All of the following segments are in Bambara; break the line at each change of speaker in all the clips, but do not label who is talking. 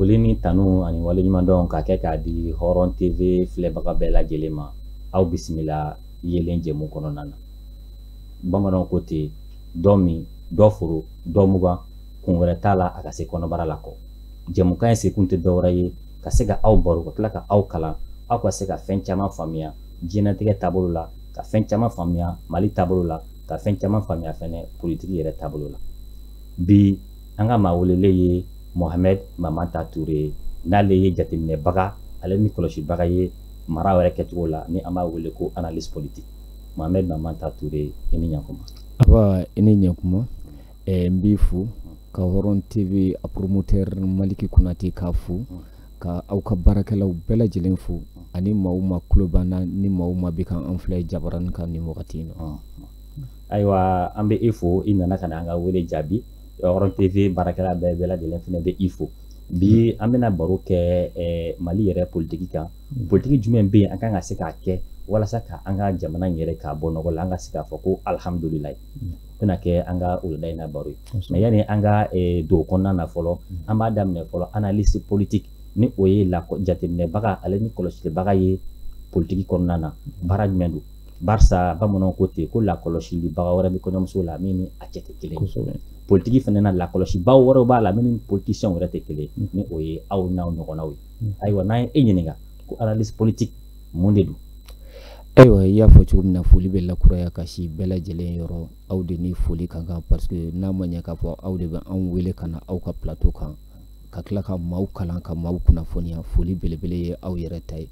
foli ni tanu ani waleɲumandɔn ka kɛ k'a di hɔrɔn tv filɛbaga bɛɛ lajɛlen ma aw bisimila yeelen jɛmu kɔnɔna na bamananw ko ten dɔ min dɔ foron dɔ mugan kun wɛrɛ t'a la a ka se kɔnɔbara la kɔ jɛmukan in sekun tɛ dɔwɛrɛ ye ka se ka aw baro ka tila ka aw kalan aw ka se ka fɛn caman faamuya diɲɛnatigɛ taabolo la ka fɛn caman faamuya mali taabolo la ka fɛn caman faamuya fɛnɛ politiki yɛrɛ taabolo la bi an ka maa welele ye mohamɛd mamanta ture ye n'ale ye jateminɛbaga ale ni kɔlɔsibaga ye mara yɛrɛ kɛcogo la ni an b'a wele ko analyste politique mohamɛd mamanta ture i ni ɲakuma nba i ni
ɲakuma ɛɛ n b'i fo ka hɔrɔn tv a promoteur maliki konate k'a fo ka aw ka baarakɛlaw bɛɛ lajɛlen fo ani maaw minnw tulo b'an na ni maaw minnw bɛ ka an filɛ jabaranin kan nin wagati in na ayiwa
an bɛ i fo i nana ka na an ka wele jaabi hɔrɔn tv baarakɛla bɛɛ bɛɛ lajɛlen fana bɛ i fo bi an bɛna baro kɛ eh, mali yɛrɛ politiki kan mm. politiki jumɛn bɛ yen an kan ka se k'a kɛ walasa ka an ka jamana in yɛrɛ k'a bɔ nɔgɔ la an ka se k'a fɔ ko alihamudulilayi bɛna kɛ an ka wulada in na baro ye mais yanni an ka eh, don kɔnɔna na fɔlɔ mm. an b'a daminɛ fɔlɔ analyste politique ni o ye la jateminɛbaga ale ni kɔlɔsilibaga ye politiki kɔnɔna na baara jumɛn don barisa bamananw ko ten ko lakɔlɔsilibaga wɛrɛ bɛ kɔɲɔmuso la min ni a cɛ tɛ kelen politiki fana na lakɔlɔsibaw wɛrɛw b'a la min ni politisiyɛnw yɛrɛ tɛ kelen mm. ni o ye aw n'aw ɲɔgɔnnaw ye mm. ayiwa n'an ye e ɲininka ko analyste politique mun de don
ayiwa i y'a fɔ cogo min na foli bɛ lakuraya ka sin bɛɛ lajɛlen yɔrɔ aw de ni foli ka kan parce que n'a ma ɲɛ k'a fɔ aw de bɛ anw wele ka na aw ka plateau kan ka tila ka maaw kalan ka maaw kunnafoniya foli belebele ye aw yɛrɛ ta ye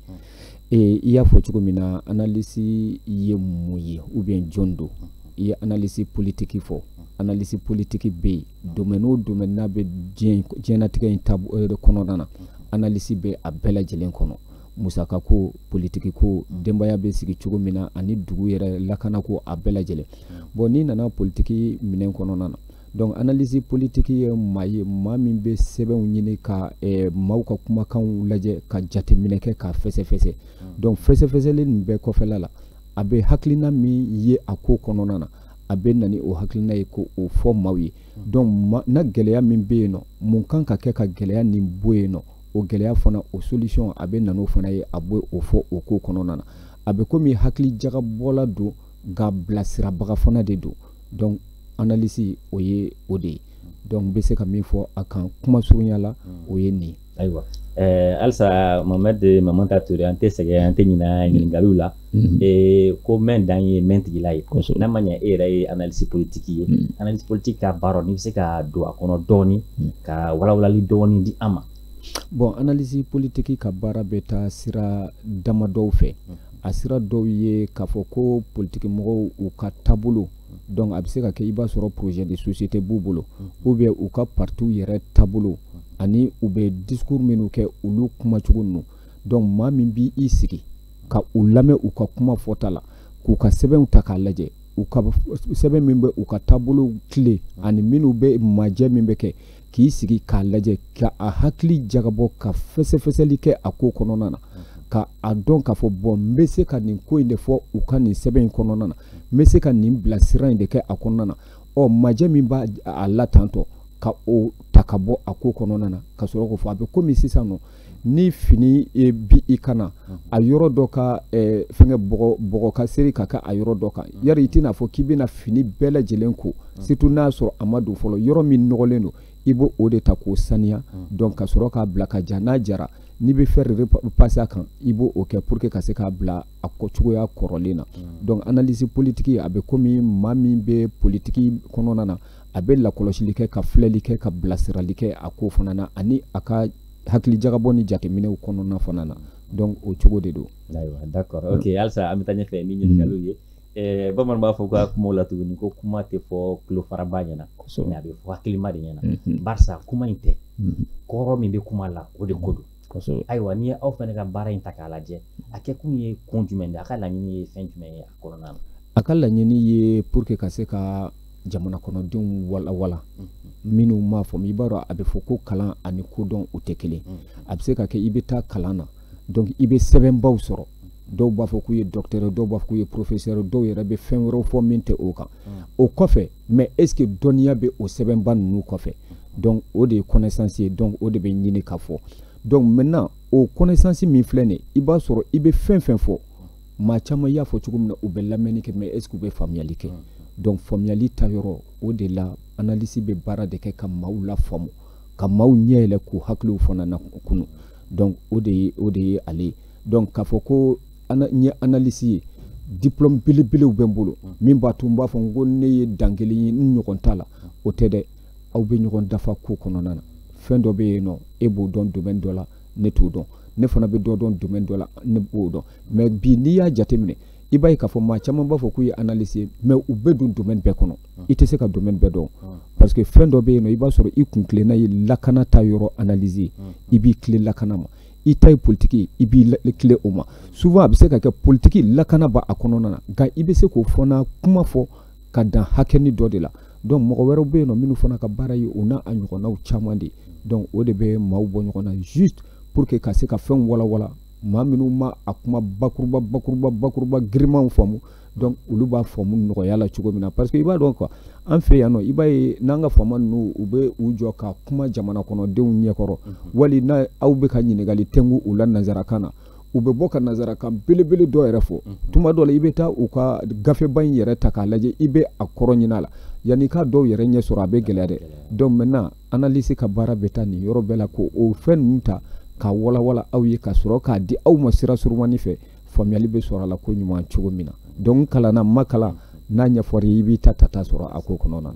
ee i y'a fɔ cogo min na analisi ye mun ye ou bien jɔn don i ye analisi politiki fɔ analisi politiki bɛ yen domaine o domaine n'a bɛ diɲɛ diɲɛnatigɛ in taabolo kɔnɔna na analisi bɛ a bɛɛ lajɛlen kɔnɔ musakako politikiko denbaya bɛ sigi cogo min na ani dugu yɛrɛ lakanako a bɛɛ lajɛlen bon n'i nana politiki minɛ kɔnɔna na donc analyste politiki ye maa ye maa min bɛ sɛbɛnw ɲini ka eh, maaw ka kumakanw lajɛ ka jateminɛ kɛ k'a fɛsɛfɛsɛ donc fɛsɛfɛsɛli nin bɛɛ kɔfɛla la a bɛ hakilina min ye a ko kɔnɔna na a bɛ na ni o hakilina ye k'o fɔ maaw ye donc na gɛlɛya min bɛ yen nɔ mun kan ka kɛ ka gɛlɛya nin bɔ yen nɔ o gɛlɛya fana o solution a bɛ na n'o fana ye a bɛ o fɔ o ko kɔnɔna na a bɛ komi hakili jagabɔla don nka bilasirabaga fana de don donc analyse o ye o de ye donc n bɛ se ka min fɔ a kan kuma surunya la o ye nin ye. ayiwa ɛɛ
halisa mohamed mamanta ture an tɛ sɛgɛn an tɛ ɲinɛ ɲininkaliw la. Mm-hmm. ee ko mɛn dan ye mɛn tigila ye n'a ma ɲɛ e yɛrɛ ye analisi politiki ye mm-hmm. analisi politiki ka baara n'i bɛ se ka don a kɔnɔ dɔɔni mm-hmm. ka walawalali dɔɔni di an ma bon analisi
politiki ka baara bɛ taa sira damadɔw fɛ a sira dɔw ye k'a fɔ ko politiki mɔgɔw u ka taabolo donc a bɛ se ka kɛ i b'a sɔrɔ projet de société b'u bolo ou bien u ka partiw yɛrɛ taabolo ani u bɛ discours minnu kɛ olu kumacogo ninnu donc maa min b'i i sigi ka u lamɛn u ka kuma fɔta la k'u ka sɛbɛnw ta k'a lajɛ u ka sɛbɛn min bɛ u ka taabolo tile ani minnu bɛ majɛ min bɛ kɛ k'i sigi k'a lajɛ ka a hakili jagabɔ ka fɛsɛfɛsɛli kɛ a ko kɔnɔna na ka a dɔn k'a fɔ bon n bɛ se ka nin ko in de fɔ u ka nin sɛbɛn in kɔnɔna na n bɛ se ka nin bilasira in de kɛ a kɔnɔna na ɔ majɛ min b'a la tantɔ ka o ta ka bɔ a ko kɔnɔna na ka sɔrɔ k'o fɔ a bɛ komi sisan nɔ ni fini b'i kan na a yɔrɔ dɔ ka eh, fɛngɛ bɔgɔ ka seri ka kɛ a yɔrɔ dɔ kan yari i tɛna fɔ k'i bɛna fini bɛɛ lajɛlen ko surtout n'a sɔrɔ a ma don fɔlɔ yɔrɔ min nɔgɔlen don i b'o o de ta k'o saniya donc ka sɔrɔ k'a bila ka ja n'a jara n'i bɛ fɛɛrɛ de pase a kan i b'o kɛ pour que ka se k'a bila a cogoya kɔrɔlen na donc analyse politique a bɛ komi maa min bɛ politiki kɔnɔna na a bɛ lakɔlɔsili kɛ ka filɛli kɛ ka bilasirali kɛ a ko fana na ani a ka hakili jagabɔ ni jateminɛw kɔnɔna fana na donc o cogo de don ayiwa d'accord
ok halisa an bɛ taa ɲɛfɛ ni ɲininkaliw ye eh, bamananw b'a fɔ ka kumaw la tuguni ko kuma tɛ fɔ tulofaraba ɲɛna mais a bɛ fɔ hakilima de ɲɛna mhm. barisa kuma in tɛ mhm. kɔrɔ min bɛ kuma la o de ko don ayiwa n'i ye aw fana ka baara in ta k'a lajɛ a kɛkun ye kun jumɛn de a ka laɲini ye fɛn jumɛn ye kɔnɔna na a ka laɲini
ye pour que ka se ka jamana kɔnɔdenw walawala minnu m'a faamu i b'a dɔn a bɛ fɔ ko kalan ani kodɔn u tɛ kelen a bɛ se ka kɛ i bɛ taa kalan na donc i bɛ sɛbɛnbaw sɔrɔ dɔw b'a fɔ k'u ye docteur dɔw b'a fɔ k'u ye professeur dɔw yɛrɛ bɛ fɛn wɛrɛw fɔ min tɛ o kan o kɔfɛ mais est-ce que dɔnniya bɛ o sɛbɛnba ninnu kɔfɛ donc o de ye connaissance ye donc o de bɛ ɲini ka fɔ donc maintenant o connaissance min filɛ nin ye i b'a sɔrɔ i bɛ fɛn fɛn fɔ maa caman y'a fɔ cogo min na u bɛ lamɛnni kɛ mais est ce que u bɛ faamuyali kɛ donc faamuyali ta yɔrɔ o de la analyse bɛ baara de kɛ ka maaw lafaamu ka maaw ɲɛ yɛlɛ k'u hakiliw fana na kunu donc o de ye o de ye ale ye donc k'a fɔ ko n ye analyse ye diplôme belebelew bɛ n bolo min b'a to n b'a fɔ ko ne ye dan kelen ye n ɲɔgɔn t'a la o tɛ dɛ aw bɛ ɲɔgɔn dafa ko kɔnɔna na fɛn dɔ bɛ yen nɔ e b'o dɔn domaine dɔ la ne t'o dɔn ne fana bɛ dɔ dɔn domaine dɔ la ne b'o dɔn mais bi n'i y'a jateminɛ i b'a ye k'a fɔ maa caman b'a fɔ k'u ye analyse ye mais u bɛ don domaine bɛɛ kɔnɔ ah. i tɛ se ka domaine bɛɛ dɔn ah. parce que fɛn dɔ bɛ yen nɔ i b'a sɔrɔ i kun tilenna ye lakana ta yɔrɔ analyse ye ah. i b'i tilen lakana ma i ta ye politiki ye i b'i tilen o ma souvent a bɛ se ka kɛ politiki lakana b'a kɔnɔna na nka i bɛ se k'o fana kuma fɔ ka dan hakɛni dɔ de la donc mɔgɔ wɛrɛw bɛ yen nɔ minnu fana ka baara ye o n'a ɲɔgɔnnaw caman de donc o de bɛ maaw bɔ ɲɔgɔn na juste pour que ka se ka fɛnw walawala maa minnu ma a kuma bakuruba girimanw faamu donc olu b'a faamu nɔgɔya la cogo min na parce que i b'a dɔn quoi an fɛ yan nɔ i b'a ye n'an ka faama ninnu u bɛ u jɔ ka kuma jamana kɔnɔdenw ɲɛkɔrɔ wali n'aw bɛ ka ɲininkali tɛngu u la nanzarakan na u bɛ bɔ ka nanzarakan belebele dɔ yɛrɛ fɔ mhm. tuma dɔ la i bɛ taa u ka gafeba in yɛrɛ ta k'a lajɛ i bɛ a kɔrɔ ɲinin a la yanni k'a dɔw yɛrɛ ɲɛ sɔrɔ a bɛ gɛlɛya dɛ donc maintenant analyse ka baara bɛ taa nin yɔrɔ bɛɛ la ko o fɛn ninnu ta ka walawala aw ye ka sɔrɔ k'a di aw ma sira surumani fɛ faamuyali bɛ sɔrɔ a la ko ɲuman cogo min na donc kalanna ma kalan n'a ɲɛfɔra i b'i tata sɔrɔ a ko kɔnɔna na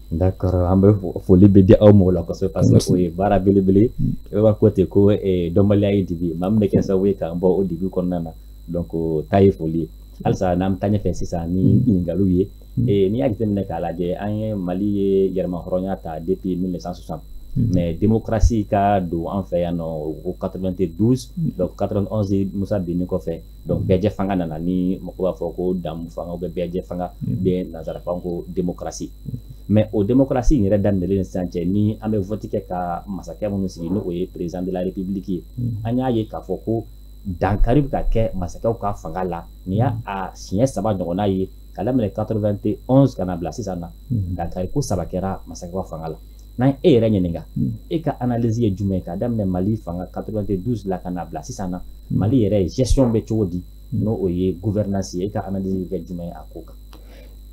D'accord
an bɛ foli bɛ di aw ma o la kosɛbɛ parce que o ye baara belebele ye i b'a fɔ ten ko dɔnbaliya ye dibi maa min bɛ kɛ sababu ye k'an bɔ o dibi kɔnɔna na donc o ta ye foli ye halisa n'an bɛ taa ɲɛfɛ sisan ni ɲininkaliw ye ee n'i y'a jateminɛ k'a lajɛ an ye mali ye yɛrɛma hɔrɔnya ta depuis 1960 mais démocratie ka don an fɛ yan nɔ o 92 donc 91 musa binni kɔfɛ donc bɛɛjɛ fanga nana ni mɔgɔw b'a fɔ ko jɛmu fanga ou bɛɛjɛ fanga mm. bɛ nanzarakan ko démocratie mm. mais o démocratie in yɛrɛ daminɛlen sisan cɛ ni an bɛ vote kɛ ka masakɛ minnu sigi n'o ye président de la république ye mm. an y'a ye k'a fɔ ko dankari bɛ ka kɛ masakɛw ka fanga la nin y'a siɲɛ saba ɲɔgɔnna ye ka daminɛ 91 ka na bila sisan na dankari ko saba kɛra masakɛw fanga la n'an y'e yɛrɛ ɲininka hmm. e ka analyse ye jumɛn k'a daminɛ mali fanga 92 la ka n'a bila sisan na hmm. mali yɛrɛ gestion bɛ cogo di hmm. n'o ye gouvernance ye e ka analyse bɛ kɛ jumɛn ye a ko kan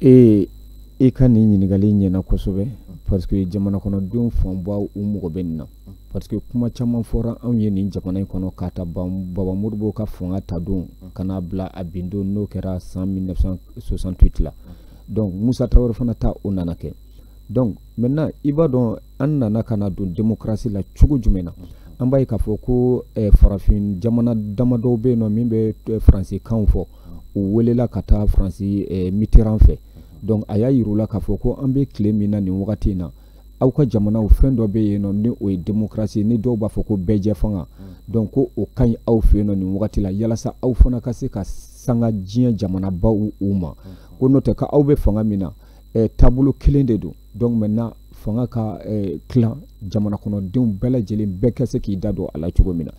ee
i ka nin ɲininkali ɲɛna kosɛbɛ parce que jamana kɔnɔdenw fanba u mago bɛ nin na parce que kuma caman fɔra anw ye nin jamana in kɔnɔ k'a ta baba modibo ka fanga ta don ka n'a bila a bin don n'o kɛra san 1968 la donc musa tarawele fana ta o nana kɛ donc maintenant i b'a dɔn an nana ka na don démocratie la cogo jumɛn na an b'a ye k'a fɔ ko eh, farafin jamana damadɔw bɛ yen nɔ min bɛ eh, faransikan fɔ u welela ka taa faransi eh, mitterrand fɛ donc a y'a yir'u la k'a fɔ ko an bɛ tile min na nin wagati in na aw ka jamanaw fɛn dɔ bɛ yen nɔ ni o ye démocratie ni dɔw b'a fɔ ko bɛɛjɛfanga donc ko o ka ɲi aw fɛ yen nɔ nin wagati la yalasa aw fana ka se ka sanga diɲɛ jamanabaw ma ko n'o tɛ ko aw bɛ fanga min na eh, taabolo kelen de don donc maintenant fanga ka eh, tilan jamana kɔnɔdenw bɛɛ lajɛlen bɛɛ ka se k'i da don a la cogo min na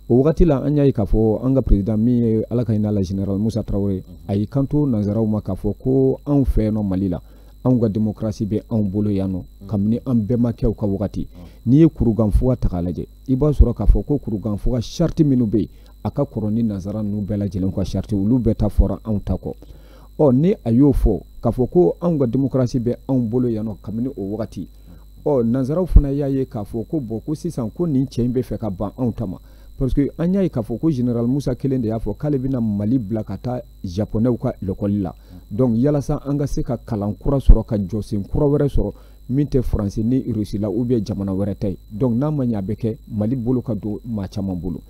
o wagati la an y'a ye k'a fɔ an ka président min ye ala ka hinɛ la général musa tarawele a y'i kanto nanzaraw ma k'a fɔ ko anw fɛ yan nɔ mali la anw ka démocratie bɛ anw bolo yan nɔ mm. kabini an bɛnbakɛw ka wagati mm. n'i ye kurukanfuga ta k'a lajɛ i b'a sɔrɔ k'a fɔ ko kurukanfuga charte minnu bɛ yen a ka kɔrɔ ni nanzara ninnu bɛɛ lajɛlen ka charte olu bɛɛ ta fɔra anw ta kɔ ɔ ni a y'o fɔ k'a fɔ ko anw ka démocratie bɛ anw bolo yan nɔ kabini o wagati ɔ nanzaraw fana y'a ye k'a fɔ ko bon ko sisan ko nin cɛ in bɛ fɛ ka ban anw ta ma parce que an y'a ye k'a fɔ ko général musa kelen de y'a fɔ k'ale bɛna mali bila ka taa japonɛw ka lekɔli la donc yalasa an ka se ka kalan kura sɔrɔ ka jɔsen kura wɛrɛ sɔrɔ min tɛ faransi ni russie la ou bien jamana wɛrɛ ta ye donc n'a ma ɲɛ a bɛ kɛ mali bolo ka don maa caman bolo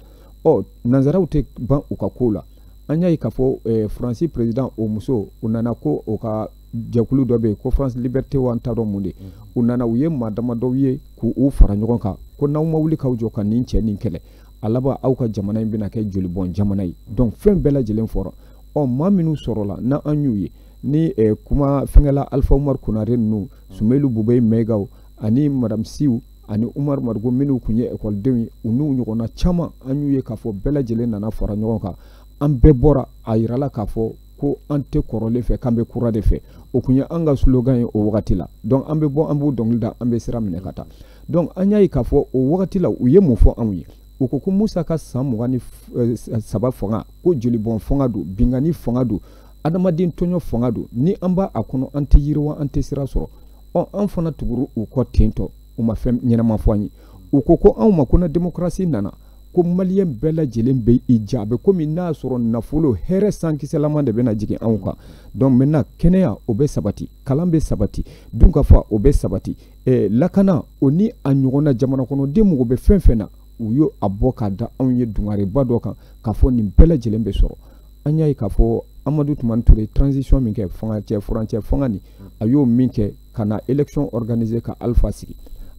ɔ nanzaraw tɛ ban u ka kow la an y'a ye k'a fɔ eh, faransi président o muso u nana ko o ka jɛkulu dɔ bɛ yen ko france liberté wa n t'a dɔn mun de mm. u nana u ye maa damadɔw ye k'u fara ɲɔgɔn kan ko n'aw ma wuli k'aw jɔ ka nin cɛ nin kɛlɛ a laban aw ka jamana in bɛna kɛ jolibɔn jamana ye donc fɛn bɛɛ lajɛlen fɔra ɔ maa minnu sɔrɔla na an y'u ye ni eh, kuma fɛnkɛla alpha umar konare ninnu sumeyilu bubɛyi mayigaw ani madame siw ani umaru mariko minnu tun ye ekɔlidenw ye u n'u ɲɔgɔnna caman an y'u ye k'a fɔ bɛɛ lajɛlen nana fara ɲɔgɔn kan an bɛɛ bɔra a yirala k'a fɔ ko an tɛ kɔrɔlen fɛ k'an bɛ kura de fɛ o tun ye an ka slogan ye o wagati la donc an bɛ bɔ an b'u dɔnkili da an bɛ sira minɛ ka taa donc an y'a ye k'a fɔ o wagati la u ye mun fɔ anw ye u ko ko musa ka san mugan ni eh, saba fanga ko jolibɔn fanga don binkanni fanga don adamaden tɔɲɔ fanga don ni an b'a kɔnɔ an tɛ yiriwa an tɛ sira sɔrɔ ɔ an fana tugura u kɔ ten tɔ u ma fɛn ɲɛnama fɔ an ye u ko ko anw ma ko ni démocratie nana ko maliyɛn bɛɛ lajɛlen bɛ i ja a bɛ komi n'a sɔrɔ nafolo hɛrɛ sankisɛlama de bɛna jigin anw kan donc maintenant kɛnɛya o bɛ sabati kalan bɛ sabati dunkafa o bɛ sabati eh, lakana o ni a ɲɔgɔnna jamanakɔnɔden mago bɛ fɛn fɛn na u y'o labɔ k'a da anw ye dungareba dɔ kan k'a fɔ nin bɛɛ lajɛlen bɛ sɔrɔ an y'a ye k'a fɔ amadu tumani ture transition min kɛ fanga cɛ furancɛ fanga nin a y'o min kɛ ka na élection organiser ka alpha sigi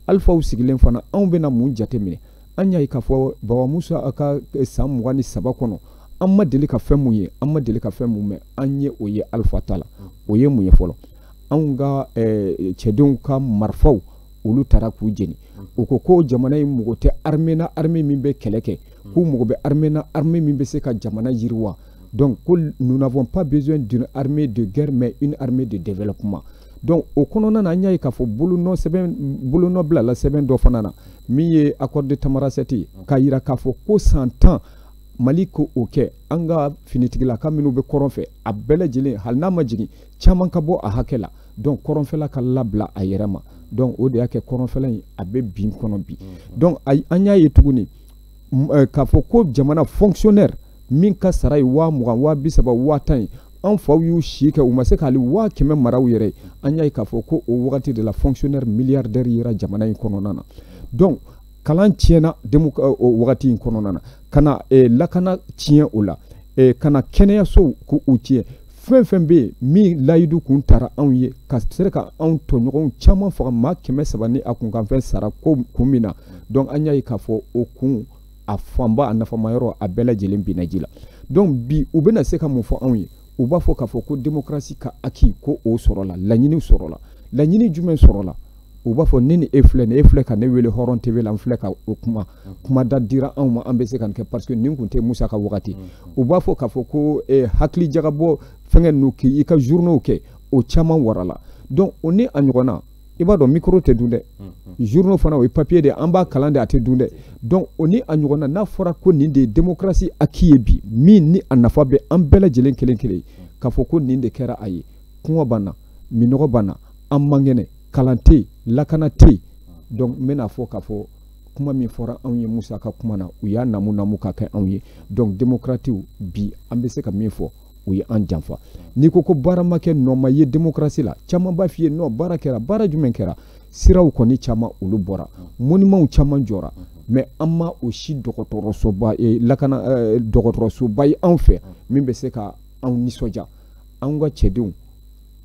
alpha sigilen fana anw bɛna mun jateminɛ an y'a ye k'a fɔ baba musa a ka eh, san mugan ni saba kɔnɔ an ma deli ka fɛn mun ye an ma deli ka fɛn mun mɛn an ye o ye alpha ta la o ye mun ye fɔlɔ anw ka eh, cɛdenw ka marifaw olu taara k'u jeni u ko ko jamana in mago tɛ armée na armée min bɛ kɛlɛ kɛ hmm. k'u mago bɛ armée na armée min bɛ se ka jamana yiriwa donc ko nous n'avons pas besoin d'une armée de guerre mais une armée de développement donc o kɔnɔna na an y'a ye k'a fɔ bolonɔ sɛbɛn bolonɔ bilala sɛbɛn dɔ fana na min ye accord de tamanrasset ye k'a yira k'a fɔ ko san tan mali ko o kɛ an ka finitigilaka minnu bɛ kɔrɔn fɛ a bɛɛ lajɛlen hali n'a ma jigin caman ka bɔ a hakɛ la donc kɔrɔnfɛla ka labila a yɛrɛ ma donc o de y'a kɛ kɔrɔnfɛla in a bɛ bin kɔnɔ bi donc an y'a ye tuguni eh, k'a fɔ ko jamana fonctionnaire min ka sara ye waa mugan waa bi saba waa tan ye an faw y'u si kɛ u ma se ka hali waa kɛmɛ mara u yɛrɛ ye an y'a ye k'a fɔ ko o wagati de la fonctionnaire milliardaire yera jamana in kɔnɔna na donc kalan tiɲɛna demu eh, o wagati in kɔnɔna na ka na eh, lakana tiɲɛ o la eh, ka na kɛnɛyasow k'u tiɲɛ fɛn fɛn bɛ yen min layidu kun tara anw ye ka sɔrɔ ka anw tɔɲɔgɔnw caman faga maa kɛmɛ saba ni a kunkanfɛn sara ko kun min na donc an y'a ye k'a fɔ o kun a fanba a nafama yɔrɔ a bɛɛ lajɛlen binna ji la donc bi u bɛna se ka mun fɔ anw ye u b'a fɔ k'a fɔ ko démocratie ka acquis ko o sɔrɔla laɲiniw sɔrɔla laɲini jumɛn sɔrɔla u b'a fɔ ne ni e filɛ nin e filɛ ka ne wele hɔrɔn tv la n filɛ ka o kuma mm. kuma da dira anw ma an bɛ se ka nin kɛ parce que nin tun tɛ musa ka wagati mm. u b'a fɔ k'a fɔ ko eh, hakili jagabɔ fɛngɛ ninnu k'i i ka journaux kɛ o caman warala donc o ni a ɲɔgɔnna i b'a dɔn micro tɛ dun dɛ mm, journaux fana o ye papier de an b'a kalan de a tɛ dun dɛ donc o ni a ɲɔgɔnna n'a fɔra ko nin de ye démocratie acquis ye bi min ni a nafa bɛ an bɛɛ lajɛlen kelen kelen k'a fɔ ko nin de kɛra a ye kɔngɔ b'an na minnɔgɔ b'an na an man kɛnɛ kalan tɛ yen lakana tɛ yen donc n bɛna fɔ k'a fɔ kuma min fɔra anw ye musa ka kuma na u y'a namu namu ka kɛ anw ye donc demokratiw bi an bɛ se ka min fɔ u ye an janfa n'i ko ko baara ma kɛ nɔ ma ye demokrasi la caman b'a f'i ye non baara kɛra baara jumɛn kɛra siraw kɔni caman olu bɔra monimanw caman jɔra mais an ma o si dɔgɔtɔrɔsoba eh, lakana eh, dɔgɔtɔrɔsoba ye anw fɛ min bɛ se ka anw nisɔndiya an ka cɛdenw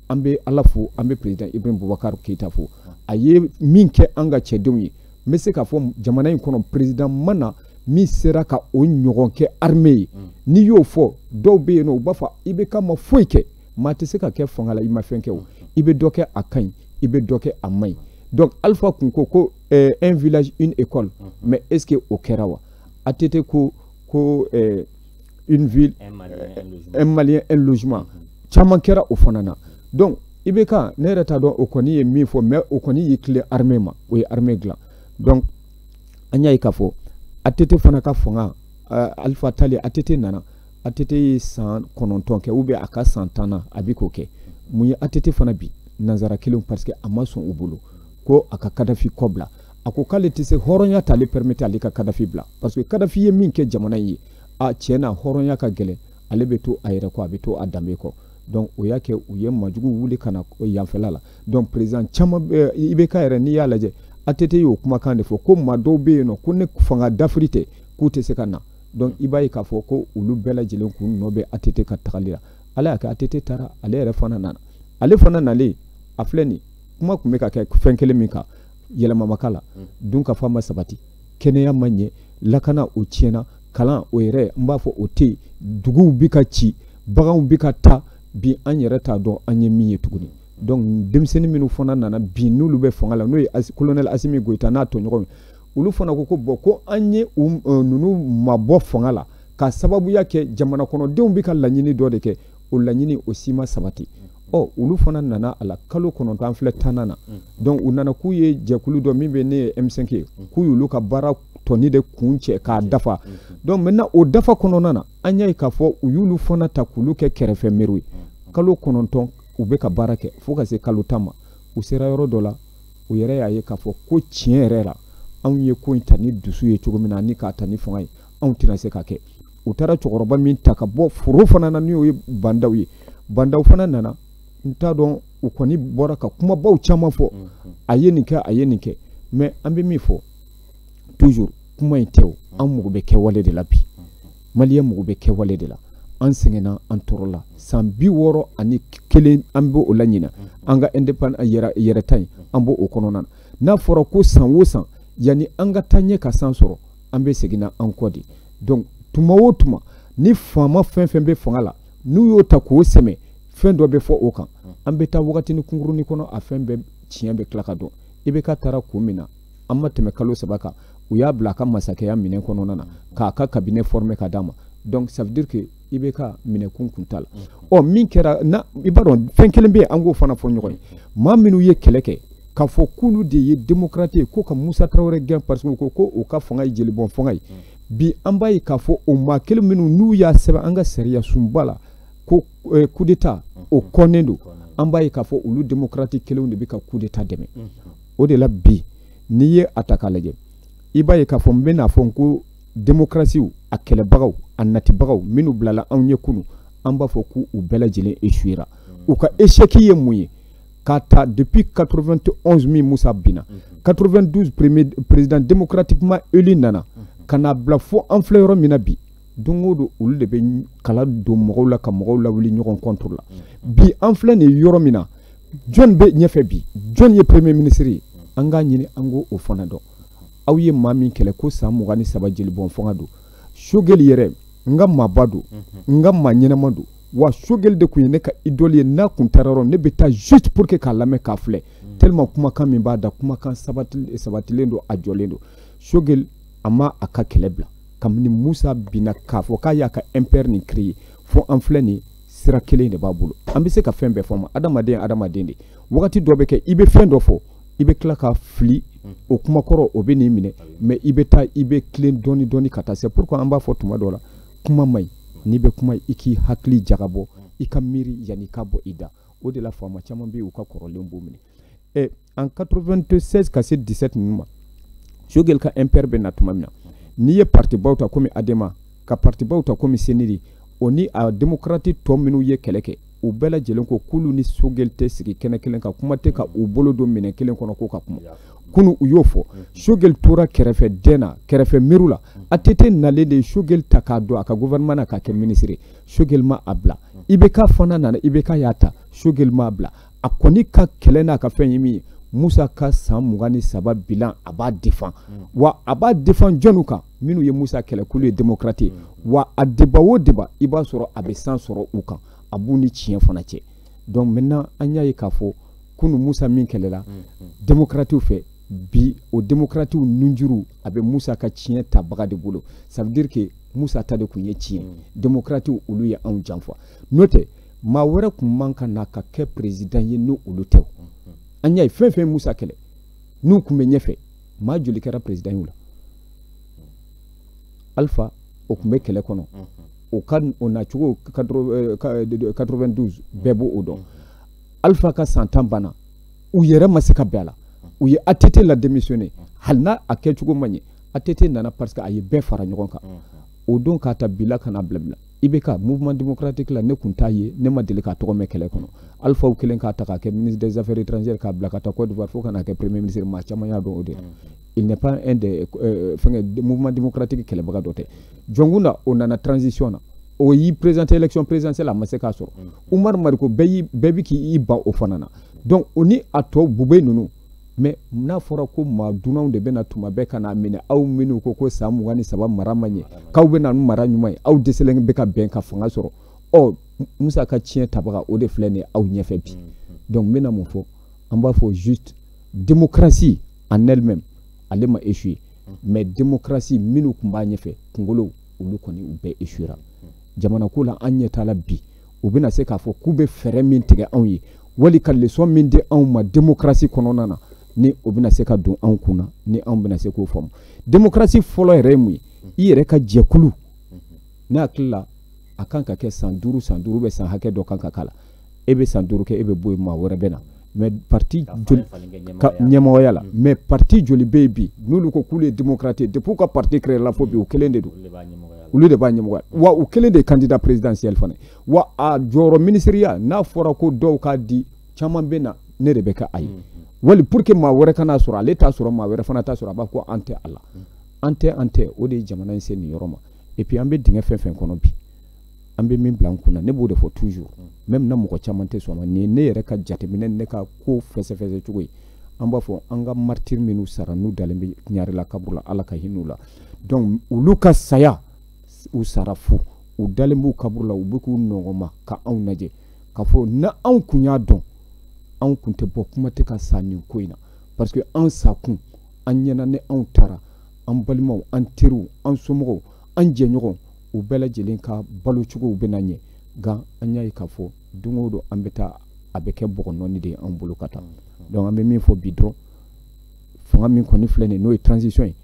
an bɛ ala fo an bɛ perezidan ibrahim bubakari keyita fo a ye min kɛ an ka cɛdenw ye n bɛ se k'a fɔ jamana in kɔnɔ perezidan ma na min sera ka o ɲɔgɔn kɛ armée ye mm. n'i y'o fɔ dɔw bɛ yen non u b'a fɔ ibk ma foyi kɛ maa tɛ se ka kɛ fanga la i ma fɛn kɛ o i bɛ dɔ kɛ a ka ɲi i bɛ dɔ kɛ a man ɲi donc alpha kun ko ko eh, un village une école mm. mais est ce que o kɛra wa att ko ko eh, une ville un malien un logement, un malien, un logement. caman kɛra o fana na donc IBK ne yɛrɛ t'a dɔn o kɔni ye min fɔ mais o kɔni y'i tilen armée ma o ye armée dilan donc an y'a ye k'a fɔ ATT fana ka fanga euh, Alpha taalen ATT nana ATT ye san kɔnɔntɔn kɛ ou bien a ka san tan na a bɛ k'o kɛ mun ye ATT fana bin nanzara kelen parce que a ma sɔn u bolo ko a ka Kadafi kɔ bila a ko k'ale tɛ se hɔrɔnya t'ale permettre ale ka kadafi bila parce que kadafi ye min kɛ jamana ye a tiɲɛ na hɔrɔnya ka gɛlɛn ale bɛ to a yɛrɛ kɔ a bɛ to a danbe kɔ donc o y'a kɛ u ye majugu wuli ka na yanfɛla la donc président caman IBK yɛrɛ n'i y'a lajɛ ATT y'o kumakan de fɔ ko maa dɔw bɛ yen n'o ko ni fanga dafiri tɛ k'u tɛ se ka na donc i b'a ye k'a fɔ ko olu bɛɛ lajɛlen k'u nɔ bɛ ATT ka tagali la ala y'a kɛ ATT taara ale yɛrɛ fana nana ale fana nalen a filɛ nin kuma tun bɛ ka kɛ fɛn kelen min kan yɛlɛma ma k'a la mm. dunkafa ma sabati kɛnɛya ma ɲɛ lakana o tiɲɛna kalan o yɛrɛ n b'a fɔ o tɛ yen duguw bɛ ka ci baganw bɛ ka taa bi an yɛrɛ t'a dɔn an ye min ye tuguni donc denmisɛnnin minnu fana nana bi n'olu bɛ fanga la n'o ye kolonɛli asimi goyita n'a tɔɲɔgɔnw ye olu fana ko ko bon ko an ye ninnu mabɔ fanga la ka sababuya kɛ jamana kɔnɔdenw bɛ ka laɲini dɔ de kɛ o laɲini o si ma sabati ɔ olu fana nana a la kalo kɔnɔntɔn an filɛ tannan na donc u nana k'u ye jɛkulu dɔ min bɛ n'o ye M5 ye k'u y'olu ka baara tɔnin de kuncɛ k'a dafa donc maintenant o dafa kɔnɔna na an y'a ye k'a fɔ u y'olu fana ta k'olu kɛ kɛrɛfɛ meriw ye kalo kɔnɔntɔn u bɛ ka baara kɛ fo ka se kalo tan ma u sera yɔrɔ dɔ la u yɛrɛ y'a ye k'a fɔ ko tiɲɛ yɛrɛ la anw ye ko in ta ni dusu ye cogo min na ani k'a ta ni fanga ye anw tɛna se k'a kɛ u taara cɛkɔrɔba min ta ka bɔ foro fana na n'o ye ba ndaw ye ba ndaw fana nana n t'a dɔn u kɔni bɔra ka kumabaw caman fɔ a ye nin kɛ a ye nin kɛ mais an bɛ min fɔ toujours kuma in tɛ o an mago bɛ kɛwale de la bi maliyɛn mago bɛ kɛwale de la an sɛgɛnna an tɔɔrɔla san bi wɔɔrɔ ani kelen an bɛ o la ɲinan an ka independ yɛrɛta in an b'o o kɔnɔna na n'a fɔra ko san o san yanni an ka taa ɲɛ ka san sɔrɔ an bɛ seginna an kɔ de donc tuma o tuma ni faama fɛn fɛn bɛ fanga la n'u y'o ta k'o sɛmɛ fɛn dɔ bɛ fɔ o kan an bɛ taa wagatini kunkurunin kɔnɔ a fɛn bɛɛ tiɲɛ bɛ tila ka dɔn IBK taara kun min na an ma tɛmɛ kalo saba kan u y'a bila a ka masakɛya minɛn kɔnɔna na k'a ka cabinet former ka d'a ma donc ça veut dire que IBK minɛkun kun t'a la ɔ min kɛra i b'a dɔn fɛn kelen bɛ yen an k'o fana fɔ ɲɔgɔn ye maa minnu ye kɛlɛ kɛ k'a fɔ k'olu de ye demokarate ye ko ka musa tarawele gɛn parce que ko o ka fanga ye jelibɔn fanga ye bi an b'a ye k'a fɔ o maa kelen minnu n'u y'a sɛbɛn an ka sariya sunba la ko eh, kudeta o kɔnnen don an b'a ye k'a fɔ olu demokarati kelenw de bɛ ka kudeta dɛmɛ o de la bi n'i ye a ta k'a lajɛ i b'a ye k'a fɔ n bɛn'a fɔ n ko démocratie a kɛlɛbagaw a natibagaw minnu bilala anw ye kunu an b'a fɔ k'u bɛɛ lajɛlen échouera u ka échec ye mun ye k'a ta depuis 91 min musa binna 92 premier président démocratiquement élu nana ka n'a bila fo an filɛ yɔrɔ min na bi don o don olu de bɛ kala don mɔgɔw la ka mɔgɔw lawuli ɲɔgɔn contre la bi an filɛ nin yɔrɔ min na jɔn bɛ ɲɛfɛ bi jɔn ye premier ministre ye an k'a ɲini an k'o fana dɔn aw ye maa min kɛlɛ ko san mugan ni saba jelibɔn fanga don sogɛli yɛrɛ n ka maaba don n ka maa ɲɛnama don wa sogɛli de tun ye ne ka idole ye n'a kun taara yɔrɔ ne bɛ taa juste pour que k'a lamɛn k'a filɛ tellement kumakan min b'a da kumakan sabatilen don a jɔlen don sogɛli a ma a ka kɛlɛ bila kabini musa binna k'a fɔ k'a y'a ka MPR nin créer fo an filɛ nin sira kelen de b'a bolo an bɛ se ka fɛn bɛɛ fɔ ma adamaden adamaden de wagati dɔ bɛ kɛ i bɛ fɛn dɔ fɔ i bɛ tila ka fili mm. o kuma kɔrɔ o bɛ n'i minɛ mais i bɛ taa i bɛ tilen dɔɔni dɔɔni ka taa c'est pourquoi an b'a fɔ tuma dɔ la kuma man ɲi n'i bɛ kuma i k'i hakili jagabɔ mm. i ka miiri yanni i ka bɔ i da o de la faama caman bɛ yen u ka kɔrɔlen b'u minɛ ɛ en 96 ka se 17 ninnu ma Sogɛli ka MPR bɛ na tuma min na mm. n'i ye partibaw ta komi Adema ka partibaw ta komi CNID o ni a démocrate tɔ minnu ye kɛlɛ kɛ u bɛɛ lajɛlen ko k'olu ni sogɛli tɛ sigi kɛnɛ kelen kan kuma tɛ ka u bolo don minɛn kelen kɔnɔ ko ka kuma kunu u y'o fɔ sogɛli tora kɛrɛfɛ dɛn na kɛrɛfɛ miiriw la att nalen de ye sogɛli ta k'a don a ka gouvernement na k'a kɛ minisiri sogɛli ma a bila ibk fana nana ibk y'a ta sogɛli ma a bila a kɔni ka kɛlɛ n'a ka fɛn ye min ye musa ka san mugan ni saba bilan a b'a défend wa a b'a défend jɔnniw kan minnu ye musa kɛlɛ k'olu ye démocrate ye wa a débat o débat i b'a sɔrɔ a bɛ san sɔrɔ u kan a b'u ni tiɲɛ fana cɛ donc maintenant an y'a ye k'a fɔ kunu musa min kɛlɛla demokratiw fɛ bi o demokratiw nunjuru a bɛ musa ka tiɲɛ tabaga de bolo ça veut dire que musa ta de tun ye tiɲɛ demokratiw olu ye anw janfa n'o tɛ maa wɛrɛ tun man ka na ka kɛ président ye n'olu tɛ an y'a ye fɛn o fɛn musa kɛlɛ n'u tun bɛ ɲɛfɛ maa joli kɛra président y'u la alpha o tun bɛ kɛlɛ kɔnɔ o ka o nacogo 92 bɛɛ b'o dɔn alpha ka san tan banna u yɛrɛ ma se ka bɛn a la u ye att la démissionné hali n'a a kɛcogo ma ɲɛ att nana parce que a ye bɛɛ fara ɲɔgɔn kan o don k'a ta bila ka na bila bila ibk mouvement démocratique la ne tun t'a ye ne ma deli k'a tɔgɔ mɛn kɛlɛ kɔnɔ alphaw kɛlen k'a ta k'a kɛ ministre des affaires étrangères k'a bila ka taa Côte d'Ivoire fo ka n'a kɛ premier ministre maa caman y'a dɔn o de la il n'est pas un des euh, fɛnkɛ mouvement démocratique kɛlɛbaga dɔ tɛ jɔnkunda o nana transition na o y'i présenter élection présidentielle a ma se k'a sɔrɔ Umar Mariko bɛɛ y'i bɛɛ bi k'i ban o fana na donc o ni a tɔ Boubèye ninnu mais n'a fɔra ko maa dunanw de bɛna tuma bɛɛ ka n'a minɛ aw minnu ko ko san mugan ni saba mara ma ɲɛ k'aw bɛna ni mara ɲuman ye aw dɛsɛlen bɛ ka bɛn ka fanga sɔrɔ ɔ musa ka tiɲɛ tabaga o de filɛ nin ye aw ɲɛfɛ bi donc n bɛna mun fɔ an b'a fɔ juste démocratie en elle-même ale ma échoué mais démocratie minnu tun b'a ɲɛfɛ kunkolow olu kɔni u bɛɛ échouera jamanako la an ɲɛ t'a la bi u bɛna se k'a fɔ k'u bɛ fɛɛrɛ min tigɛ anw ye wali ka lesɔn min di anw ma demokarasi kɔnɔna na ni o bɛna se ka don anw kun na ni anw bɛna se k'o faamu demokarasi fɔlɔ yɛrɛ ye mun ye i yɛrɛ ka jɛkulu ne hakili la a kan ka kɛ san duuru san duuru bɛ san hakɛ dɔ kan ka k'a la e bɛ san duuru kɛ e bɛ bɔ yen maa wɛrɛ bɛ na mais parti joli ka ɲɛmɔgɔya la mais parti joli bɛ yen bi n'olu ko k'olu ye démocrate ye depuis u ka parti créer la fo bi u kelen de don olu de b'a ɲɛmɔgɔya wa u kelen de ye candidat présidentiel fana wa a jɔyɔrɔ minisiriya n'a fɔra ko dɔw k'a di caman bɛ na ne de bɛ kɛ a ye wali pour que maa wɛrɛ kan'a sɔrɔ ale t'a sɔrɔ maa wɛrɛ fana t'a sɔrɔ a b'a ko an tɛ a la an tɛ an tɛ o de ye jamana in se nin yɔrɔ ma et puis an bɛ dingɛ fɛn fɛn kɔnɔ bi an bɛ min bila an kunna ne b'o de fɔ toujours même na mɔgɔ caman tɛ sɔn ma nin ye ne yɛrɛ ka jateminɛ ne ka ko fɛsɛfɛsɛ cogo ye an b'a fɔ an ka martyr minnu sara n'u dalen bɛ ɲarela kaburu la ala ka hin'u la donc olu ka saya u sara fu u dalen b'u kaburu la u bɛ k'u nɔnkɔnma ka anw lajɛ k'a fɔ n'anw kun y'a dɔn anw kun tɛ bɔ kuma tɛ ka sa nin ko in na parce que an sakun an ɲɛ na ni anw taara an balimaw an teriw an somɔgɔw an jɛɲɔgɔnw u bɛɛ lajɛlen ka balo cogow bɛna ɲɛ nka an y'a ye k'a fɔ don o don an bɛ taa a bɛ kɛ bɔgɔ nɔɔni de ye an bolo ka taa donc an bɛ min fɔ bi dɔrɔn fanga min kɔni filɛ nin n'o ye transition ye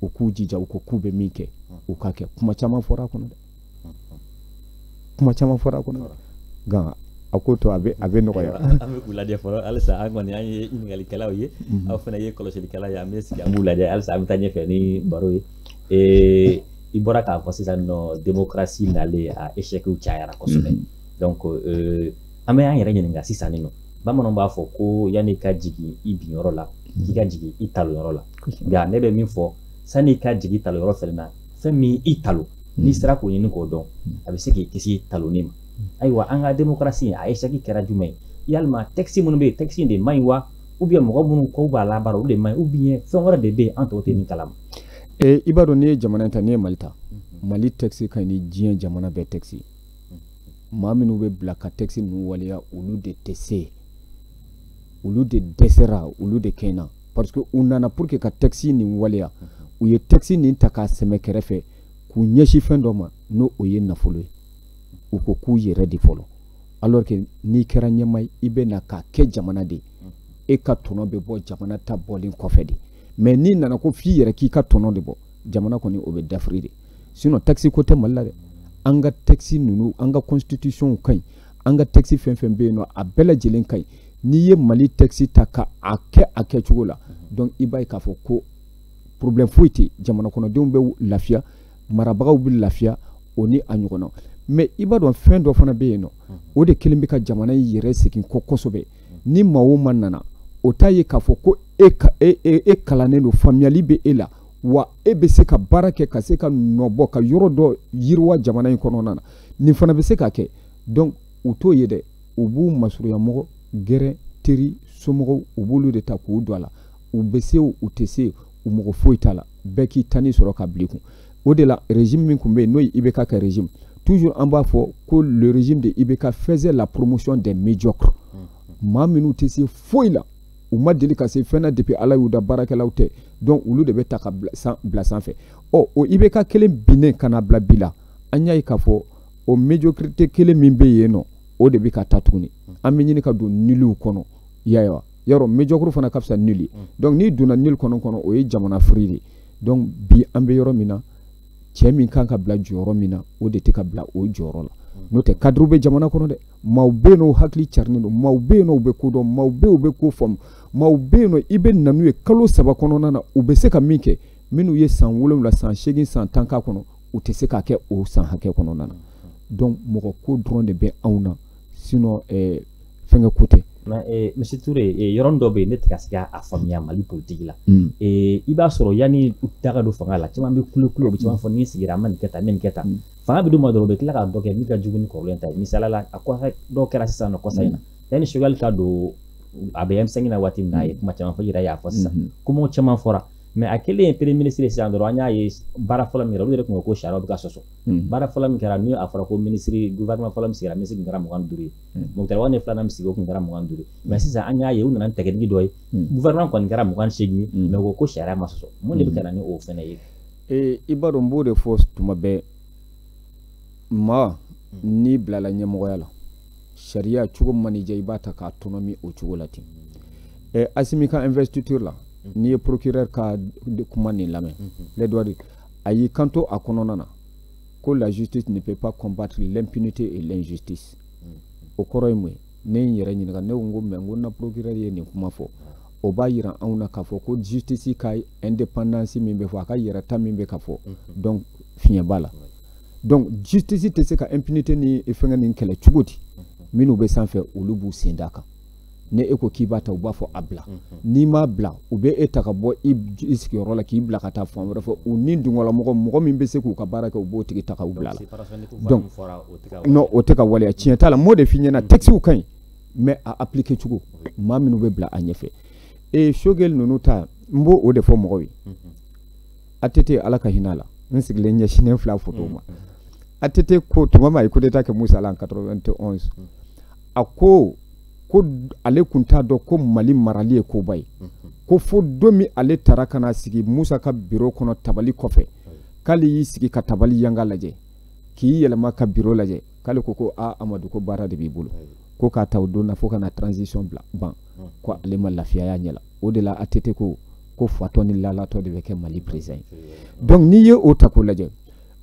u k'u jija u ko k'u bɛ min kɛ u k'a kɛ kuma caman fɔra a kɔnɔ dɛ kuma caman fɔra a kɔnɔ nka a ko to a bɛ a bɛ nɔgɔya an bɛ k'u lajɛ
fɔlɔ halisa an kɔni an ye ɲininkali ye mhm. aw fana ye kɔlɔsilikɛla ye an bɛ sigi an b'u lajɛ halisa an bɛ taa ɲɛfɛ ni baro ye i bɔra k'a fɔ sisan nin nɔ demokarasi nalen a eshɛkiw cayara kosɛbɛ mhm. donc euh, an bɛ an yɛrɛ ɲininka sisan nin nɔ bamananw b'a fɔ ko yann'i ka jigin i binyɔrɔ la k'i ka jigin i talonyɔrɔ la nka ne bɛ min fɔ sanni i ka jigin talonyɔrɔ fɛnɛ na fɛn min y'i talon mhm. n'i sera k'o ɲini k'o dɔn mhm. a bɛ se k'i kisi talonni ma ayiwa an ka demokarasi a eshɛki kɛra jumɛn ye yalima tɛkisi minnu bɛ yen tɛkisi in de man ɲi wa ou bien mɔgɔ minnu ko u b'a labaara olu de man ɲi ou bien fɛn wɛrɛ de bɛ yen an tɔw tɛ min kalama e i b'a
dɔn n'i ye jamana in ta n'i ye mali ta mali texte ka ɲi ni diɲɛ jamana bɛɛ texte maa minnu bɛ bila ka texte ninnu waleya olu de tɛ se yen olu de dɛsɛra olu de kɛɲɛna parce que u nana pour que ka texte nin waleya u ye texte nin ta k'a sɛmɛ kɛrɛfɛ k'u ɲɛsin fɛn dɔ ma n'o o ye nafolo ye u ko k'u yɛrɛ de fɔlɔ alors que n'i kɛra ɲɛmaa ye i bɛ na k'a kɛ jamana de ye e ka tɔnɔ bɛ bɔ jamana ta bɔlen kɔfɛ de mais n'i nana ko f'i yɛrɛ k'i ka tɔnɔ de bɔ jamana kɔni o bɛ dafiri de sinon texte ko tɛ mali la dɛ an ka texte ninnu an ka constitution ka ɲi an ka texte fɛn fɛn bɛ yen nɔ a bɛɛ lajɛlen ka ɲi n'i ye mali texte ta ka a kɛ a kɛcogo la donc i b'a ye k'a fɔ ko problème foyi tɛ jamana kɔnɔdenw bɛ lafiya marabagaw bɛ lafiya o ni a ɲɔgɔnna mais i b'a dɔn fɛn dɔ fana bɛ yen nɔ o de kelen bɛ ka jamana in yɛrɛ segin kɔ kosɛbɛ ni maa o maa nana o t'a ye k'a fɔ ko e, e, e, e kalannen don faamuyali bɛ e la wa e bɛ se ka baara kɛ ka se ka nɔbɔ ka yɔrɔ dɔ yiriwa jamana in kɔnɔna na nin fana bɛ se ka kɛ donc u t'o ye dɛ u b'u masurunyamɔgɔ gɛrɛ teri somɔgɔw u b'olu de ta k'u don a la u bɛ se u tɛ se u mago foyi t'a la bɛɛ k'i tani sɔrɔ ka bil'i kun o de la régime min tun bɛ yen n'o ye IBK ka régime toujours an b'a fɔ ko le régime de IBK faisait la promotion des médiocres maa minnu tɛ se foyi la u ma deli ka se fɛn na depuis ala y'u da baarakɛlaw tɛ donc olu de bɛ ta ka bila sanfɛ ɔ o IBK kelen binnen ka na bila bi la an y'a ye k'a fɔ o médiocrité kelen min bɛ yen nɔ o de bɛ ka taa tuguni an bɛ ɲini ka don nulw kɔnɔ y'a ye wa yɔrɔ médiocre fana ka fisa nul mm. donc n'i donna nul kɔnɔ kɔnɔ o ye jamana firi de donc bi an bɛ yɔrɔ min na cɛ min kan ka bila jɔyɔrɔ min na o de tɛ ka bila o jɔyɔrɔ la mm. n'o tɛ cadrew bɛ jamana kɔnɔ dɛ maaw bɛ yen nɔ u hakili carinen don maaw bɛ yen nɔ u bɛ ko dɔn maaw bɛ yen u bɛ ko faamu maaw bɛ yen nɔ i bɛ na n'u ye kalo saba kɔnɔna na u bɛ se ka min kɛ minnu ye san wolonwula san seegin san tan k'a kɔnɔ u tɛ se k'a kɛ o san hakɛ kɔnɔna na mm. donc mɔgɔ ko dɔrɔn de bɛ anw na sinon eh, fɛnkɛ ko tɛ eh, monsieur
Touré eh, yɔrɔnin dɔ bɛ yen ne tɛ ka se k'a faamuya mali politiki la mm. eh, i b'a sɔrɔ yanni u ka don fanga la caman bɛ kulo kulo u bɛ caman fɔ ni sigira an bɛ nin kɛ tan n bɛ nin kɛ tan mm. fanga bɛ d'u ma dɔrɔn u bɛ tila ka dɔ kɛ min ka jugu ni kɔrɔlen ta ye misaliya la a kɔfɛ dɔw kɛra sisan nɔ kɔsa in na mm. yanni Choguel ka don a bɛ M5 na waati min na a ye kuma caman fɔ yɛrɛ y'a fɔ sisan kumaw caman fɔra mais a kɛlen ye premier ministre sisan dɔrɔn an y'a ye baara fɔlɔ min kɛra olu yɛrɛ tun ko ko sariyaw bɛ ka sɔsɔ Hmm. baara fɔlɔ min kɛra ni a fɔra ko minisiri gouvernement fɔlɔ min sigira minisiri tun kɛra mugan ni duuru ye hmm. Moctar Ouane filanan min sigi o tun kɛra mugan ni duuru ye mais hmm. sisan an y'a ye u nana ni tɛgɛdigi dɔ ye gouvernement kɔni kɛra mugan ni seegin ye mais u ko ko sariya ma sɔsɔ mun de bɛ ka na ni o fɛnɛ ye ee i b'a dɔn n b'o de
fɔ tuma bɛɛ maa n'i bilala ɲɛmɔgɔya la sariya cogo man'i diya i b'a ta k'a tɔnɔmi o cogo la ten Assimi ka investiture la n'i ye procureur ka kuma nin lamɛn les droits de a y'i kanto a kɔnɔna na ko la justice ne peut pas combattre l'impunité et l'injustice o kɔrɔ ye mun ye ne ye n yɛrɛ ɲininka ne ko n ko mais n ko na procureur ye nin kuma fɔ o b'a yira anw na k'a fɔ ko justice ka indépendance min bɛ fɔ a ka yɛrɛta min bɛ ka fɔ donc fiɲɛ b'a la donc justice tɛ se ka impunité ni fɛngɛ nin kɛlɛ cogo di minnu bɛ sanfɛ olu b'u sen d'a kan ni e ko k'i b'a ta u b'a fɔ a bila mhm. n'i m'a bila u bɛ e ta ka bɔ i sigiyɔrɔ la k'i bila ka taa fan wɛrɛ fɛ u ni dungɔlamɔgɔ mɔgɔ min bɛ se k'u ka baara kɛ u b'o tigi ta ka u bila la donc non o tɛ ka waleya tiɲɛ t'a la n b'o de f'i ɲɛna mhm. textew ka ɲi mais a appliquer cogo maa minnu bɛ bila a ɲɛfɛ e Choguel ninnu ta n b'o o de fɔ mɔgɔw ye mhm. ATT ala ka hinɛ a la n sigilen ɲɛsinnen filɛ a foto ma ATT ko tuma min a ye coup d'état kɛ Musa la en 91 a ko ko ale tun t'a dɔn ko Mali marali ye koba ye ko fo don min ale taara ka na sigi Musa ka biro kɔnɔ tabali kɔfɛ k'ale y'i sigi ka tabali yanga lajɛ k'i yɛlɛma ka biro lajɛ k'ale ko ko a Amadu ko baara de b'i bolo ko k'a ta o don na fo ka na transition bila ban ko ale ma lafiya y'a ɲɛ la o de la ATT ko ko fatɔ ni lalatɔ de bɛ kɛ Mali président ye donc n'i ye o ta k'o lajɛ